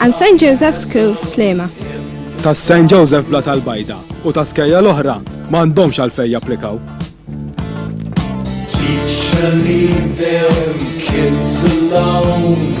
And St Joseph School Slema. Ta' St Joseph Bla tal-Bajda u ta' skejja l-oħra ma għandhomx għalfej japplikaw. Teacher, leave them kids alone.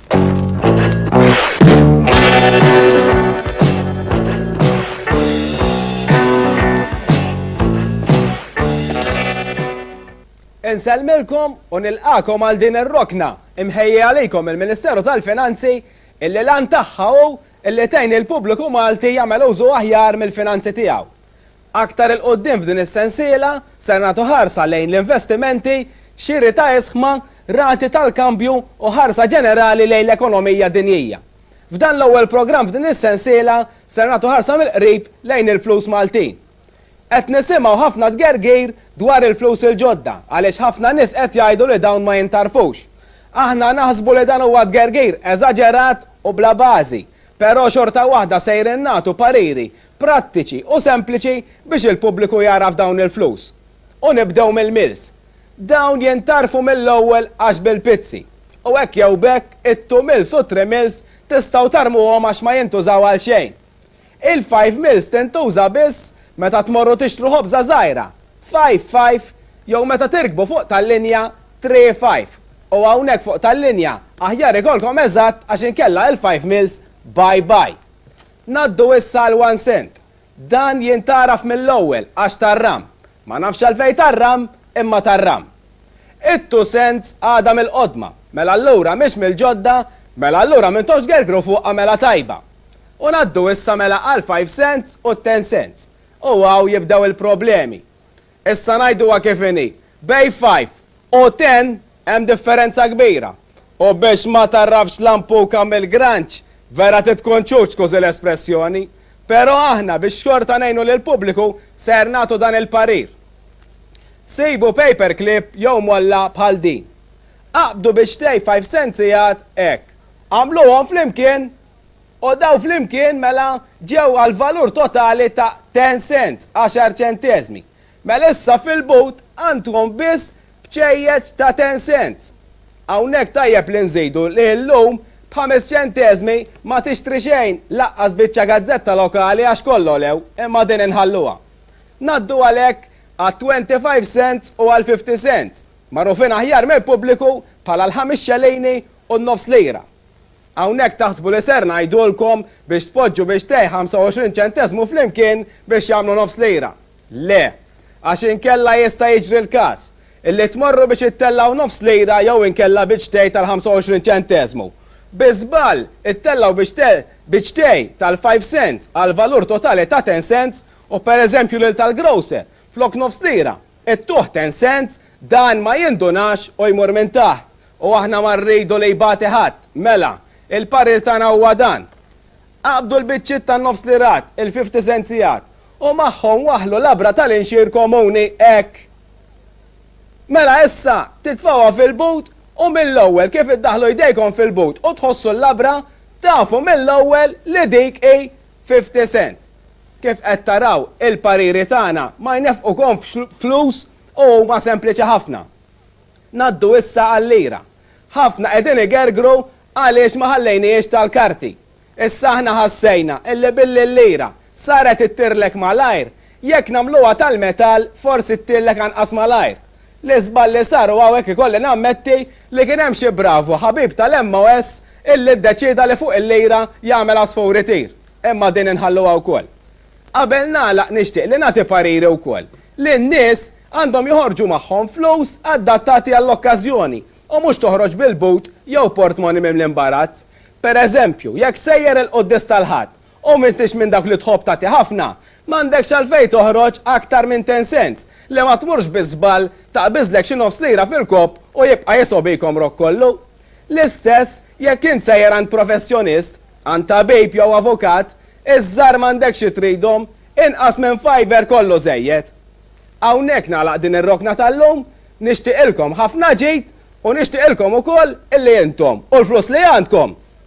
Inselmilkom u nilqakom għal din ir-rokna imħejja għalikom il-Ministeru tal-Finanzi illi lan tagħha hu illi tgħin il-pubbliku Malti jagħmel użu aħjar mill-finanzi tiegħu. Aktar 'il quddiem f'din is-sensiela ser nagħtu ħarsa lejn l-investimenti, xiri ta' isħma, rati tal-kambju u ħarsa ġenerali lejn l-ekonomija dinjija. F'dan l-ewwel programm f'din is-sensiela ser nagħtu ħarsa mill-qrib lejn il-flus Maltin. Qed nisimgħu ħafna tgergir dwar il-flus il-ġodda għaliex ħafna nies qed jgħidu li dawn ma jintarfux. Aħna naħsbu li dan huwa tgergir eżaġerat u bla bażi Però xorta waħda sejrin nagħtu pariri prattiċi u sempliċi biex il-pubbliku jagħraf dawn il-flus. U nibdew mill-mills. Dawn jintarfu mill-ewwel għax bil-pizzi. U hekk jew b'hekk it-two mills u t-three mills tistgħu tarmuhom għax ma jintużaw għal xejn. Il-five mills tintuża biss meta tmorru tixtru ħobża żgħira. Five five jew meta tirkbu fuq tal-linja Three five u hawnhekk fuq tal-linja aħjar ikollkom eżatt għax inkella il-five mils bye bye. Ngħaddu issa għal one cent. Dan jintgħaraf mill-ewwel għax tar-ram. Ma nafx għalfejn tar-ram imma tar-ram. It-two cents għadha mill-qodma, mela allura mhix mill-ġodda, mela allura m'intomx gergru fuqha mela tajba. U ngħaddu issa mela għall-five cents u t-ten cents. U hawn jibdew il-problemi. Issa ngħiduha kif inhi, bejn five u ten hemm differenza kbira. U biex ma tagħrafx lampuka mill-granċ, vera trid tkun ċuċ skużi l-espressjoni. Però aħna biex xorta ngħinu lill-pubbliku ser nagħtu dan il-parir. Sibu paper clip jew molla bħal din. Aqbdu biex tgħid five cents sigħat hekk. Agħmluhom flimkien U dawn flimkien mela ġew għall-valur totali ta' ten cents, għaxar ċenteżmi. Mela issa fil-but għandkom biss bċejjeċ ta' ten cents. Hawnhekk tajjeb li nżidu li llum b'ħames ċenteżmi ma tixtri xejn, lanqas biċċa gazzetta lokali għax kollha għolew, imma din inħalluha. Ngħaddu għalhekk għat-twenty five cents u għall-fifty cents, magħrufin aħjar mill-pubbliku bħala l-ħames xelini u n-nofs lira. Hawnhekk taħsbu li ser ngħidulkom biex tpoġġu biex tgħi 25 ċenteżmu flimkien biex jagħmlu nofs lira. Le. Għax inkella jista' jiġri l-każ. Illi tmorru biex ittellgħu nofs lira jew inkella biċ tgħi tal-25 ċenteżmu. Bi żball, ittellgħu biċ biċ tgħi tal-five cents għall-valur totali ta' ten cents u pereżempju lil tal-grocer, flok nofs lira, It-tuħ ten cents, dan ma jindunax u jmur minn taħt. U aħna ma rridu li jbati ħadd. Mela, il-parir tagħna huwa dan. Aqbdu l-biċċiet tan-nofs lirat, il-fifty centsiat, u magħhom waħħlu labra tal-inxier komuni, hekk. Mela issa, titfgħuha fil-but u mill-ewwel kif iddaħħlu jdejkom fil-but u tħossu l-labra, tafu mill-ewwel li dik hi Fifty Cent, Kif qed taraw, il-pariri tagħna ma jnefqukomx flus u huma sempliċi ħafna. Ngħaddu issa għal-lira. Ħafna qegħdin igergru għaliex ma ħallejnihiex tal-karti. Issa aħna ħassejna illi billi l-lira saret ittirlek malajr, Jekk nagħmluha tal-metall forsi ttillek anqas malajr. L-iżball li sar u hawnhekk ikolli nammetti li kien hemm xi bravu ħabib tal-MOS illi ddeċieda li fuq il-lira jagħmel għasfur itir. Imma din inħalluha wkoll. Qabel nagħlaq nixtieq li nagħti pariri wkoll li n-nies għandhom joħorġu magħhom flus adattati għall-okkażjoni u mhux toħroġ bil-but jew portmoni mimli mbarazz. Per eżempju, jekk sejjer il-Quddies tal-Ħadd U m'intix minn dawk li tħobb tagħti ħafna, m'għandekx għalfejn toħroġ aktar minn ten cents, li ma tmurx bi żball taqbiżlek xi nofs lira fil-kopp u jibqa' jiso' bik għomrok kollu. L-istess jekk int sejjer għand professjonist, għand tabib jew avukat, iż-żgħar m'għandekx xi tridhom, inqas minn fiver kollu żejjed. Hawnhekk nagħlaq din ir-rokna tal-lum, nixtieqilkom ħafna ġid u nixtieqilkom ukoll illi intom u l-flus li għandkom,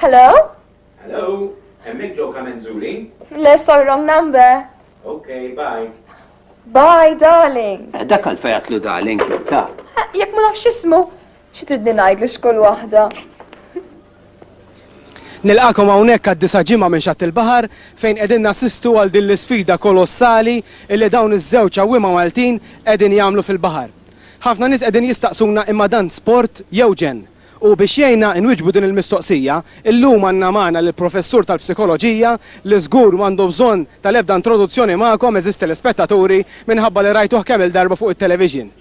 Hello? Hello, emmek ġo kamenzuri? Le, sorry, wrong number. Okay, bye. Bye, darling. Eh, dak għal-fejat lu darling, ta. Eh, Jek ma nafx ismu, xitridni najdlu xkol wahda. Nilqagħkom hawnhekk għad-disa' ġimgħa minn Xatt il-Baħar fejn qegħdin nassistu għal din l-isfida kolossali li dawn iż-żewġ għawwiema Maltin qegħdin jagħmlu fil-baħar. Ħafna nies qegħdin jistaqsuna imma dan sport jew ġenn? U biex jgħinna inwiġbu din il-mistoqsija, illum għandna magħna lill-Professur tal-Psikoloġija li żgur m'għandu bżonn tal-ebda introduzzjoni magħkom għeżież telespettaturi minħabba li rajtuh kemm-il darba fuq it-television.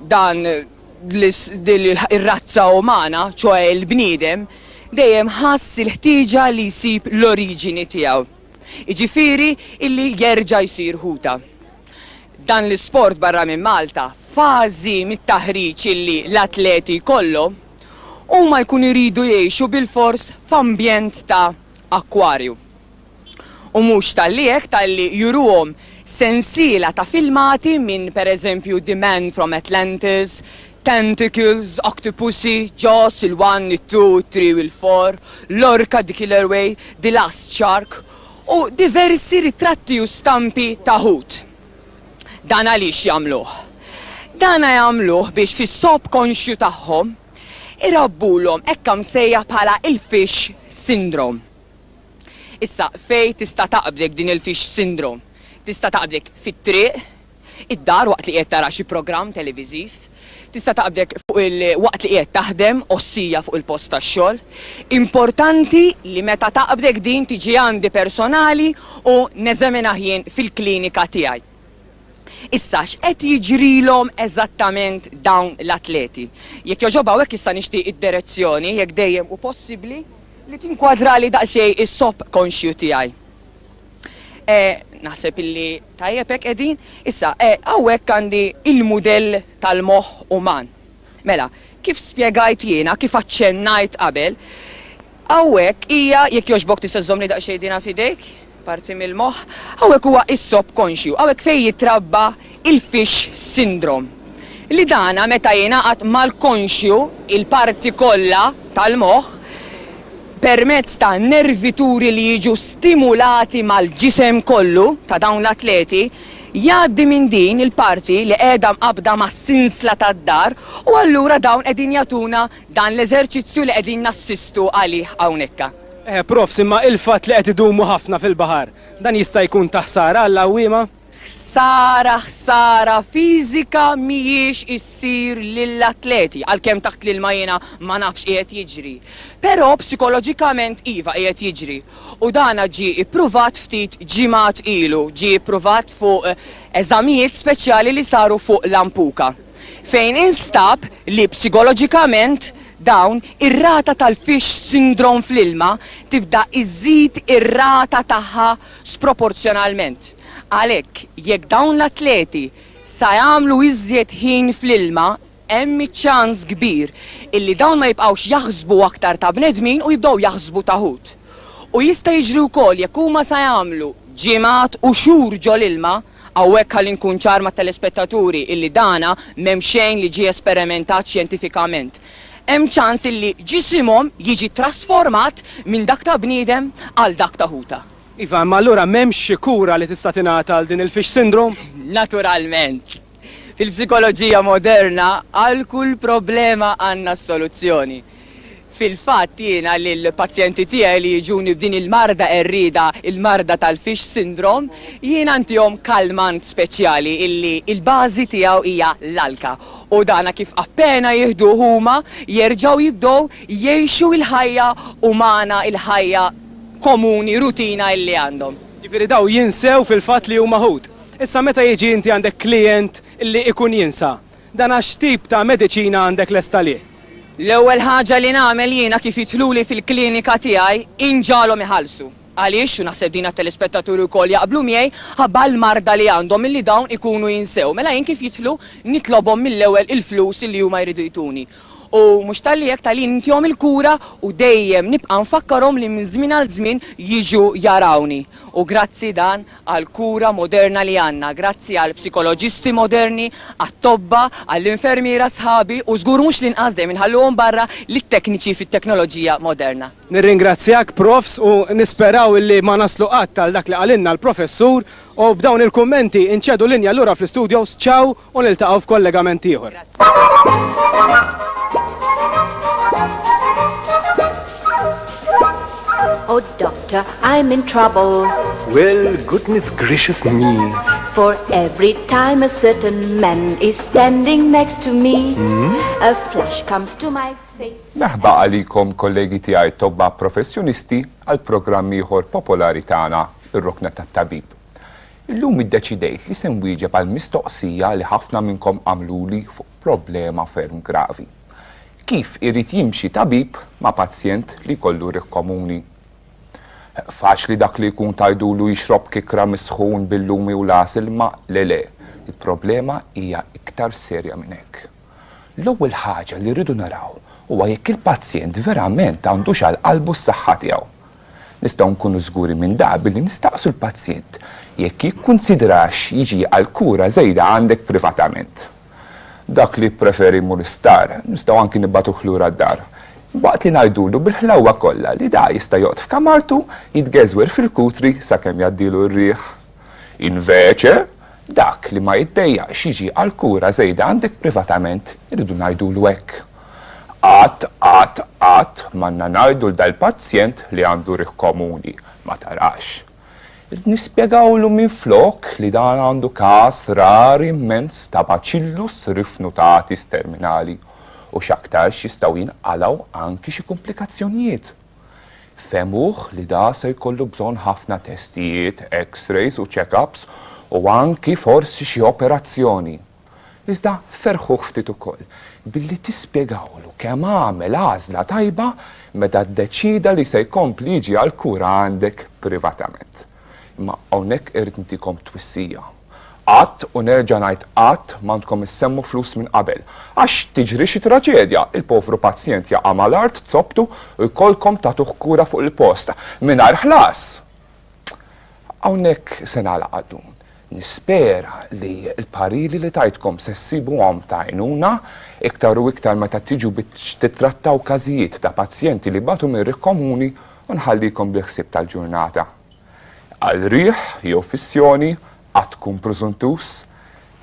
dan ir-razza umana, ċoe il-bniedem, dejjem ħass il-ħtieġa li jsib l-oriġini tiegħu, jiġifieri illi jerġa' jsir ħuta. Dan l-isport barra minn Malta, fażi mit-taħriġ illi l-atleti jkollhom, huma jkunu jridu jgħixu bilfors f'ambjent ta' akkwarju. U mhux talli hekk talli juruhom sensiela ta' filmati minn pereżempju The Man from Atlantis, Tentacles, Octopussy, Jaws, il-One, it-Two, it-Three u l-Four, Lorca, The Killer Whale, The Last Shark u diversi ritratti u stampi ta' ħut. Dan għaliex jagħmluh? Dana jagħmluh biex fis-subkonxju tagħhom irabbulhom hekk msejjaħ bħala il-fish syndrome. Issa, fejn tista' taqbdek din il-fish syndrome? Tista' taqbdek fit-triq, id-dar waqt li qiegħed tara xi programm televiżiv, tista' taqbdek fuq il waqt li qiegħed taħdem, ossija fuq il-post tax-xogħol. Importanti li meta taqbdek din tiġi għandi personali u neżaminah jien fil-klinika tiegħi. Issa, x'qed jiġrilhom eżattament dawn l-atleti? Jekk jogħġob hawnhekk issa nixtieq id-derezzjoni, jekk dejjem hu possibbli, li tinkwadrali daqsxejn is-sop konxju tiegħi. Naħseb illi tajjeb hekk qegħdin. Issa, hawnhekk għandi l-mudell tal-moħħ uman. Mela, kif spjegajt jiena, kif aċċennajt qabel, hawnhekk hija, jekk jogħġbok tista' żżommli daqsxejn dinha f'idejk, parti mill-moħħ, hawnhekk huwa is-subconscious, hawnhekk fejn jitrabba il-fish syndrome. Li dana meta jingħaqad mal-konxju, il-parti kollha tal-moħħ, permezz ta' nervituri li jiġu stimulati mal-ġisem kollu ta' dawn l-atleti, Jgħaddi minn din il-parti li qiegħda mqabbda mas-sinsla tad-dar u allura dawn qegħdin jagħtuna dan l-eżerċizzju li qegħdin nassistu għalih hawnhekka. Eh, Profs, imma il-fatt li qed idumu ħafna fil-baħar, dan jista' jkun ta' ħsara għall-għawwiema? Ħsara, ħsara fiżika mhijiex issir lill-atleti, għalkemm taħt l-ilma jiena ma nafx qiegħed jiġri. Però psikoloġikament iva qiegħed jiġri. u dan ġie ippruvat ftit ġimgħat ilu, ġie ippruvat fuq eżamijiet speċjali li saru fuq Lampuka, fejn instab li psigoloġikament dawn ir-rata tal-fish syndrome fl-ilma tibda iżżid ir-rata tagħha sproporzjonalment. Għalhekk, jekk dawn l-atleti sa jagħmlu iżjed ħin fl-ilma, hemm iċ-ċans kbir illi dawn ma jibqgħux jaħsbu aktar ta' bnedmin u jibdew jaħsbu ta' ħut. U jista' jiġri wkoll jekk huma sa jagħmlu ġimgħat u xhur ġol-ilma, hawnhekk ħalli nkun ċar mat-telespettaturi illi dana m'hemm xejn li ġie esperimentat xjentifikament, hemm ċans illi ġisimhom jiġi trasformat minn dak ta' bniedem għal dak ta' ħuta. Iva, imma allura m'hemmx xi kura li tista' tingħata għal din il-fish syndrome? Naturalment! Fil-psikoloġija moderna għal kull problema għandna s-soluzzjoni. Fil-fatt jiena lill-pazjenti tiegħi li jiġuni b'din il-marda qerrieda, il-marda tal-fish syndrome, jiena ntihom kalmant speċjali illi l-bażi tiegħu hija l-alka u dan kif appena jieħduh huma jerġgħu jibdew jgħixu l-ħajja umana, il-ħajja komuni, rutina illi għandhom. Jiġifieri dawn jinsew fil-fatt li huma ħut. Issa meta jiġi inti għandek klijent li ikun jinsa, dana x'tip ta' mediċina għandek lest għalih? L-ewwel ħaġa li nagħmel jiena kif jidħluli fil-klinika tiegħi hi nġagħalhom iħallsu. Għaliex, u naħseb din għat-telespettaturi wkoll jaqblu miegħi, ħabba l-marda li għandhom milli dawn ikunu jinsew. Mela jien kif jidħlu nitlobhom mill-ewwel il-flus li huma jridu jtuni. U mhux talli hekk talli nintihom il-kura u dejjem nibqa' nfakkarhom li minn żmien għal żmien jiġu jarawni. U grazzi dan għall-kura moderna li għandna, grazzi għall-psikoloġisti moderni, għat-tobba, għall-infermiera sħabi u żgur mhux l-inqas dejjem inħalluhom barra lit-tekniċi fit-teknoloġija moderna. Nirringrazzjak Profs u nisperaw illi ma naslu qatt għal dak li qalilna l-Professur U b'dawn il-kummenti inċedu linja lura fl-istudios, ciao u niltaqgħu f'kollegament ieħor. Oh doctor, I'm in trouble. Well, goodness gracious me. For every time a certain man is standing next to me, hmm? a flash comes to my face. Merħba għalikom kollegi tiegħi tobba professjonisti għal programm ieħor popolari tagħna ir-rokna tat-tabib. Illum iddeċidejt li se nwieġeb għall-mistoqsija li ħafna minnkom għamluli fuq problema ferm gravi. Kif irid jimxi tabib ma' pazjent li jkollu riħ komuni? Faċli dak li jkun tgħidulu jixrob kikra mis-sħun bil-lumi u l-għasel imma le le, il-problema hija iktar serja minn hekk. L-ewwel ħaġa li rridu naraw huwa jekk il-pazjent verament għandux għal qalbu s-saħħa tiegħu. Nistgħu nkunu żguri minn dan billi nistaqsu l-pazjent jekk jikkunsidrax jiġi għal kura żejda għandek privatament. Dak li jippreferi jmur l-isptar, nistgħu anki nibagħtuh lura d-dar, waqt li ngħidulu bil-ħlewwa kollha li dan jista' joqgħod f'kamartu jitgeżwer fil-kutri sakemm jgħaddilu r-riħ. Invece, dak li ma jitdejjaqx jiġi għall-kura żejda għandek privatament, irridu ngħidulu hekk. Qatt, qatt, qatt m'għandna ngħidu 'l dal-pazjent li għandu riħ komuni, ma tarax. Irridu nispjegawlu minflok li dan għandu każ rar immens ta' bacillus rifnutatis terminali u x'aktarx jistgħu jinqalgħu anki xi kumplikazzjonijiet. Fehmuh li da se jkollu bżonn ħafna testijiet, X-rays u check-ups u anki forsi xi operazzjoni. Iżda ferrħuh ftit ukoll billi tispjegawlu kemm għamel għażla tajba meta ddeċieda li se jkompli jiġi għall-kura għandek privatament. Imma hawnhekk irrid ntikom twissija. Qatt, u nerġa' ngħid qatt, m'għandkom issemmu flus minn qabel. Għax tiġri xi traġedja, il-povru pazjent jaqa' mal-art, zopptu, u jkollkom tagħtuh kura fuq il-post, mingħajr ħlas! Hawnhekk se nagħlaq għallum. Nispera li l-pariri li tajtkom se ssibuhom ta' għajnuna, iktar u iktar meta tiġu biex tittrattaw każijiet ta' pazjenti li batu minn riħ komuni u nħallikom bil-ħsieb tal-ġurnata. Għal riħ jew fissjoni, qatt tkun prużuntuż.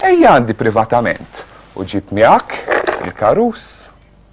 Ejja għandi privatament u ġib miegħek il-karus.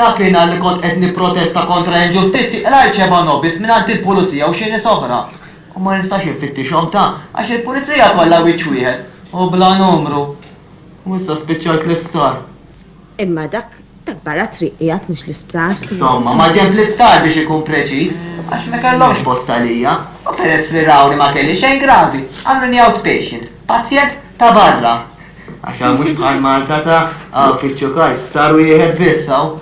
Dakinhar li kont qed nipprotesta kontra inġustizzji qlajt xebgħa nobis mingħand il-pulizija u xi nies oħra. U ma nistax infittixhom ta' għax il-pulizija kollha wiċċ wieħed u bla numru. U issa spiċċajt l-isptar. Imma dak ta' barra t-triq qiegħed mhux l-isptar. Insomma, maġenb l-isptar biex ikun preċiż, għax ma kellhomx post għalija. U peress li raw li ma kelli xejn gravi, għamluni outpatient, pazjent ta' barra. Għax hawn mhux bħal Malta ta, hawn fittxu kajt, ftar wieħed biss hawn.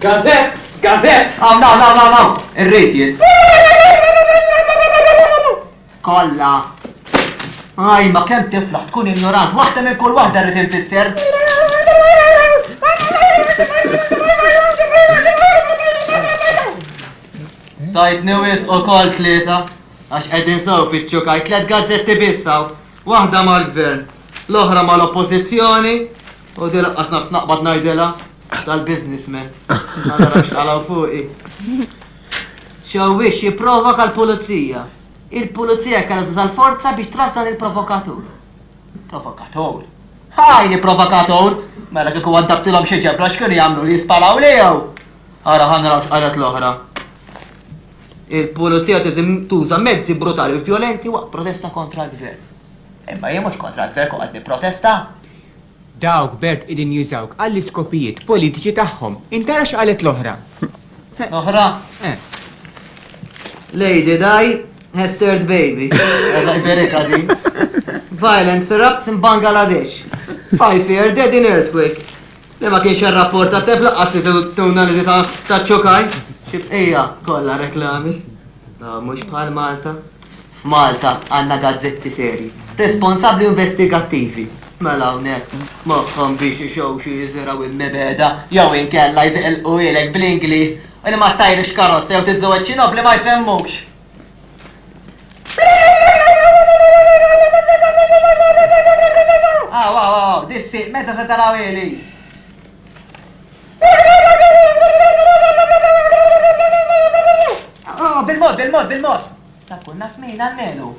Gazett! Gazett! Hawn, hawn, hawn, hawn, hawn! Irrid jien. Kollha. Aj, ma kemm tiflaħ tkun ignorant, waħda minn kull waħda rrid infisser. Tajt newis u kol tlieta, għax qegħdin sew fittxu kajt tliet gazzetti bissaw. Waħda mal-Gvern, l-oħra mal-Oppożizzjoni u di laqqas naf naqbad ngħidilha tal-businessmen. Allora x'qalgħu fuqi. Xewwix jipprovoka l-pulizija. Il-pulizija kellha tuża l-forza biex trażżan il-provokatur. Provokatur. Ħaj li provokatur! Mela kieku għaddabtilhom xi ġebla x'kienu jagħmlu li jispalaw lejhom. Ara ħanraw x'qalet l-oħra. Il-pulizija tuża mezzi brutali u vjolenti waqt protesta kontra l-Gvern. Imma jien mhux kontra l-Gvern kont qed nipprotesta. Dawk b'herd qegħdin jużawk għall-iskopijiet politiċi tagħhom. Int ara x'qalet l-oħra. L-oħra? Eh. Lady Di has third baby. Alla jberika din. Violence erupts in Bangladesh. Five year dead in earthquake. Le ma kienx irrapporta t-temp lanqas li tuna li taċ-ċokaj. Xi bqija, kollha reklami. Ah, mhux bħal Malta. F'Malta għandna gazzetti serji, responsabbli u investigattivi. Mela hawnhekk moħħhom biex ixewxu jiżirgħu immibegħda jew inkella jżeqlquhielek bl-Ingliż u li ma ttajrix karozza jew tiżżewweġ xi nobli ma jsemmukx. Aw, aw, aw, dissi, meta se taraw ili? Bil-mod, bil-mod, bil-mod! Ta' kun naf min għal-menu.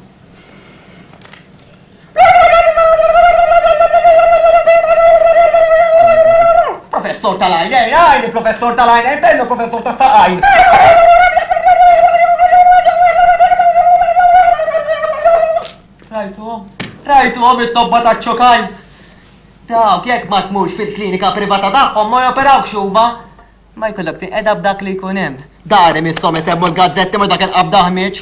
Professor tal-għajn, ej, għajn, professor tal-għajn, ej, bello, professor ta' saqajn. Rajtu, rajtu, it-tobba ta' ċokajn. Dawk, jekk ma tmux fil-klinika privata tagħhom ma joperawk xuba. Ma jkollok tiqeda b'dak li jkun hemm. Dari mistom isemmu l-gazzetti ma dak il-qabda ħmieġ.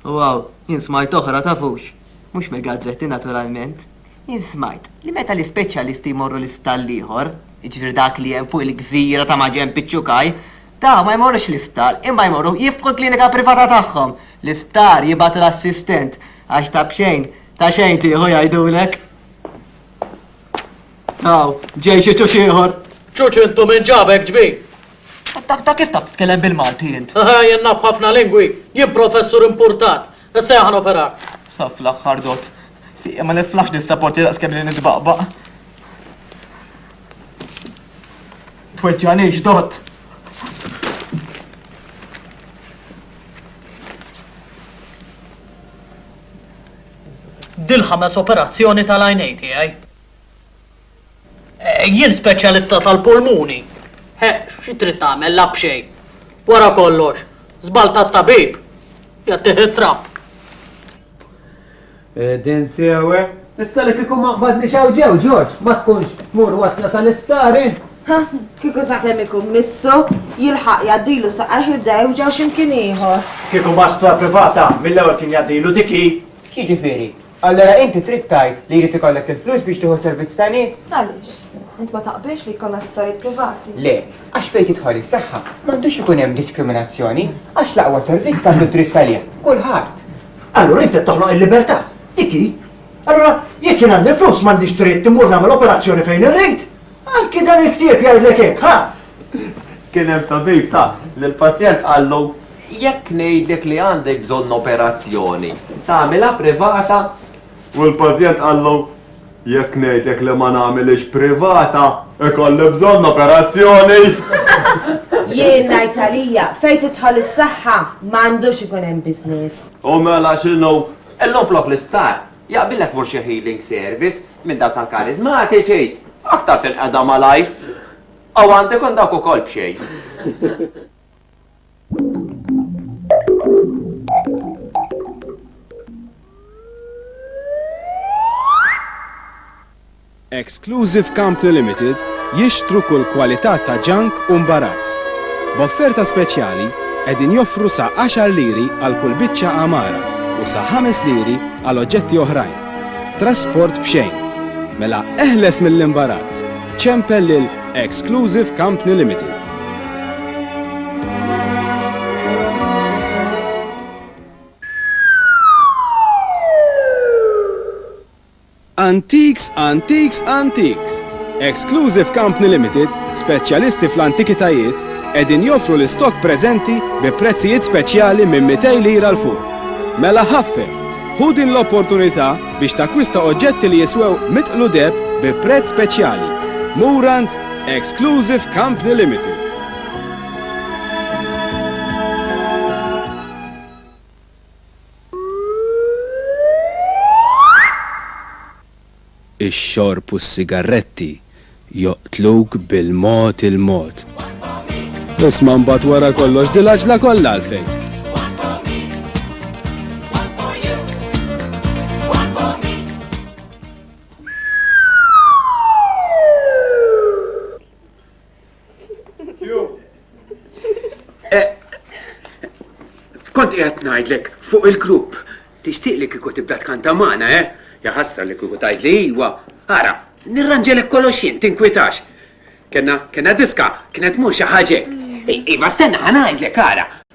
Wow, jien smajt oħra, tafux. Mhux mill-gazzetti, naturalment. Jien smajt li meta l-ispeċjalisti jmorru l-isptar l-ieħor, jiġifieri dak li hemm fuq il-gżira ta' maġenb iċ-Ċukaj, dawn ma jmorrux l-isptar imma jmorru jiftħu l-klinika privata tagħhom. L-isptar jibgħat l-assistent għax ta' b'xejn, ta' xejn tieħu jgħidulek. Taw, ġej xi ċuċ ieħor. Ċuċ intu min ġabek ġbin? Ta' kif taf titkellem bil-Malti int? Jien naf ħafna lingwi, jien professur impurtat. Issa jien ħa noperak. Sa fl-aħħar dott. Sieqi ma niflaħx dis-saporti daqskemm li nitbaqbaq. Tweġġagħnix dott. Dil-ħames operazzjoni tal-għajnejn tiegħi. Jien speċjalista tal-pulmuni. Eħ, xi trid tagħmel, la b'xejn. Wara kollox, żball tat-tabib jagħtih it-trapp. Qegħdin sew, eh? Issa li kieku ma qbadniex hawn ġew, George, ma tkunx tmur wasla sal-isptar int? Ħa, kieku sakemm ikun missu, jilħaq jgħaddilu saqajh ibda jewġgħu x'imkien ieħor. Kieku ma sptar privata, mill-ewwel kien jgħaddilu dik hi. X'jiġifieri? Allura inti trid tgħid li jrid ikollek il-flus biex tieħu servizz ta' nies? Għaliex? Int ma taqbilx li jkollna sptarijiet privati? Le, għax fejn tidħol is-saħħa, m'għandux ikun hemm diskriminazzjoni, għax l-aqwa servizz għandu d-dritt għalih kulħadd. Allura int qed toħloq il-libertà, dik hi. Allura jekk jien għandi l-flus m'għandix dritt immur nagħmel operazzjoni fejn irrid. Anki dan il-ktieb jgħidlek hekk, ħa, Kien hemm tabib ta li l-pazjent qallu jekk ngħidlek li għandek bżonn operazzjoni, tagħmilha privata? U l-pazjent qallu jekk ngħidlek li ma nagħmilhiex privata, ikolli bżonn operazzjoni! Jien ngħid għalija, fejn tidħol is-saħħa, m'għandux ikun hemm business. U mela x'inhu? Illum flok l-isptar, jaqbillek tmur xi healing service minn dawk tal-kariżmatiċi, aktar tinqeda malajr. Aw għandu jkun dawk ukoll b'xejn. Exclusive Company Limited jixtru kull kwalità ta' ġank u mbarazz. B'offerta speċjali qegħdin joffru sa 10 liri għal kull biċċa għamara u sa 5 liri għal oġġetti oħrajn. Trasport b'xejn. Mela eħles mill-imbarazz! Ċempel lil Exclusive Company Limited. Antiques, Antiques, Antiques. Exclusive Company Limited, speċjalisti fl-antikitajiet, edin joffru l-istok preżenti bi prezzijiet speċjali minn 200 lira l-fuq. Mela ħaffef, hu din l-opportunità biex takkwista oġġetti li jiswew mitqlu deheb bi prezz speċjali. Murand Exclusive Company Limited. Ix-xorb u s-sigarretti Joqtluk bil-mod il-mod. Isma' mbagħad wara kollox dil għaġla kollha għalfejn? Kont qiegħed ngħidlek fuq il-grupp tixtieq li kieku tibda tkanta magħna, eh? Ja ħasra li kieku tgħid li iwa. Ara, nirranġelek kollox jien, tinkwitax. Kenna, kenna diska, kienet mhux xi ħaġa. Iva, stenna ħanajdlek ara.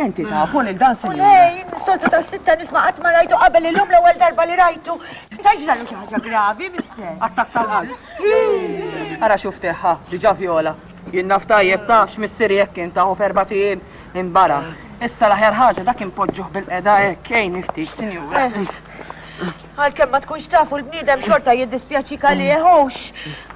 Enti tafu li dan sinjur. Lejn, soltu ta' sitta nisma' qatt ma rajtu qabel illum l-ewwel darba li rajtu. Ta' ġralu xi ħaġa gravi, mister. Attak tal-qalb. Ara xuf teħħa, diġa viola. Jien naf tajjeb ta' x'missieri jekk kien taħu ferba tiem imbara. Issa l-aħjar ħaġa dak impoġġuh bil-qeda hekk, ej niftit, sinjur. Eh. Għalkemm ma tkunx tafu l-bniedem xorta jiddispjaċi kalieħux.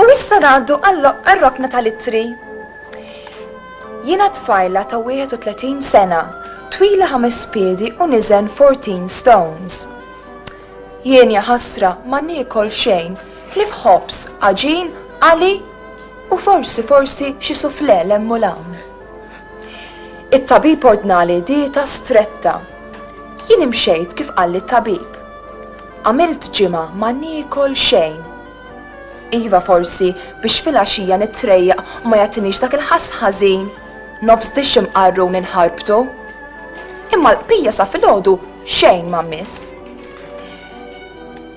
U issa ngħaddu għal-rokna tal-ittri. Jiena tfajla ta' 31 sena, twila ħames piedi u niżen 14 stones. Jien ja ħasra ma niekol xejn, ħlief ħobż, għaġin, għali u forsi forsi xi sufle lemm u lawn. It-tabib ordnali dieta stretta. Jien imxejt kif qalli t-tabib. Għamilt ġimgħa ma niekol xejn. Iva forsi biex filgħaxija nittrejjaq u ma jagħtinix dak il-ħass ħażin. Nofs dixxi mqarrun inħarbtu. Imma l-qbija sa filgħodu xejn ma mmiss.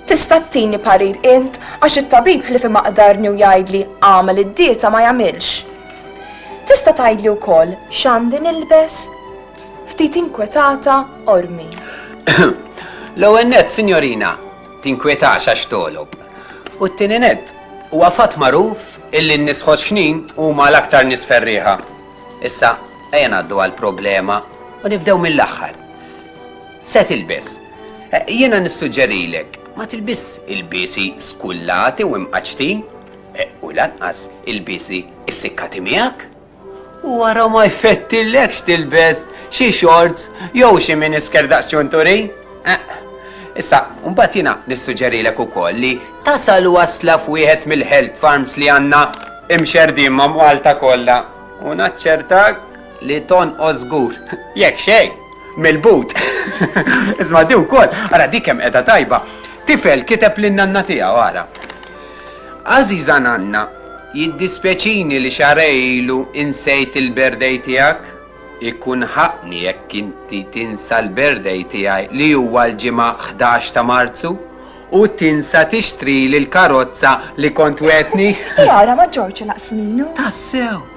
Tista' ttini parir int għax it-tabib ħlifi ma qdarni u jgħidli agħmel id-dieta ma jagħmilx. Tista' tgħidli wkoll x'għandi nilbes? Ftit inkwetata Ormi. L-ewwel nett, sinjorina, tinkwetax għax togħlob. U t-tieni nett, huwa fatt magħruf illi n-nies ħoxxnin huma l-aktar nies ferrieħa. Issa, ejja ngħaddu għall-problema u nibdew mill-aħħar. Se tilbes. Jiena nissuġġerilek ma tilbisx ilbiesi skullati u mqaċċtin u lanqas ilbiesi ssikkati miegħek. U wara ma jfettillekx tilbes xi xorts jew xi minisker daqs ċunturi? Eq. Issa, mbagħad jiena nissuġġerilek ukoll li tasal wasla f'wieħed mill-health farms li għandna imxerrdin ma' Malta kollha u naċċertak li tonqos żgur. Jekk xejn, mill-but. Isma' di wkoll, ara di kemm qiegħda tajba. Tifel kiteb lin-nanna tiegħu, ara. Għażiża nanna, jiddispjaċini li xahrejn ilu insejt il-birthday tiegħek. Ikun ħaqqni jekk inti tinsa l-birthday tiegħi li huwa l-Ġimgħa ħdax ta' Marzu u tinsa tixtrili l-karozza li kont wegħdtni. Hija ara ma' Ġorġ inqas minnu. Tassew!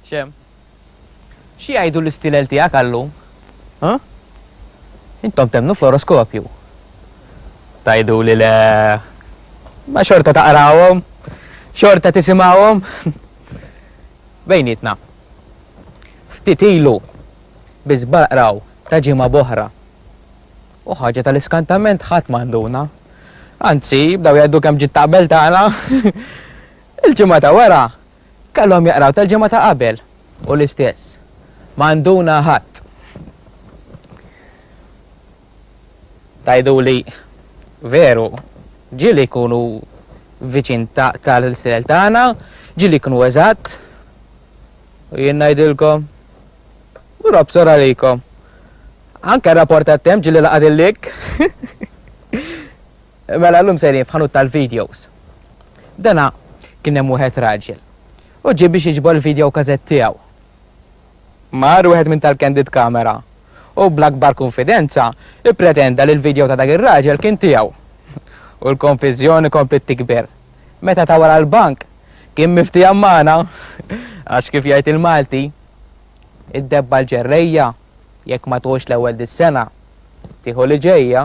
Xem, Xi jgħidu l-istielel tiegħek għal-lum? Hu? Intom temmnu fl-oroskopju? Tgħiduli le, imma xorta taqrawhom, xorta tisimgħuhom? Bejnietna, ftit ilu biss baqraw ta' ġimgħa b'oħra u ħaġa tal-iskantament ħadd ma nduna. Anzi, bdew jgħidu kemm ġiet ta' qabel tagħna. Il-ġimgħa ta' wara kellhom jaqraw tal-ġimgħa ta' qabel u l-istess. Ma nduna ħadd. Tgħiduli, Veru, ġieli jkunu viċin tal-istejjer tagħna, ġieli jkunu eżatt. U jien ngħidilkom, Robb sor għalikom. Anke r-rapport tat-temp ġieli laqgħad il-lik. Mela llum sejrin f'ħanut tal-videos. Dana kien hemm wieħed raġel. U ġie biex jiġbor il-videokażett tiegħu. Mar wieħed minn tal-candid camera u bl-akbar kunfidenza ippretenda li l-video ta' dak ir-raġel kien tiegħu. U l-konfiżjoni kompliet tikber. Meta ta' wara l-bank kien miftiehem magħna għax kif jgħid il-Malti, Id-debba l-ġerrejja jekk ma tgħux l-ewwel dis-sena, tieħu li ġejja.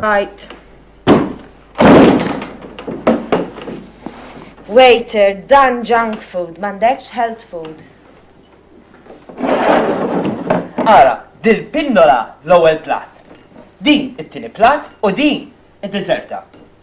Right. Waiter, dan junk food, mandekx health food. Ara, dil-pinnola l-ewwel plat. Din it-tieni plat u din id-deserta.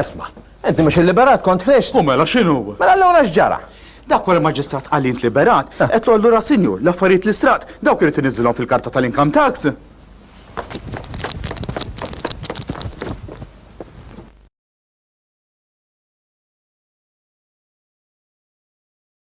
Esma, enti mhux illiberat kont ħriġt. U mela x'inhu? Mela allura x'ġara? Dak wara maġistrat qal int liberat, eh. qed allura sinjur, l-affarijiet li straqt, dawk irid iniżilhom fil-karta tal-income tax.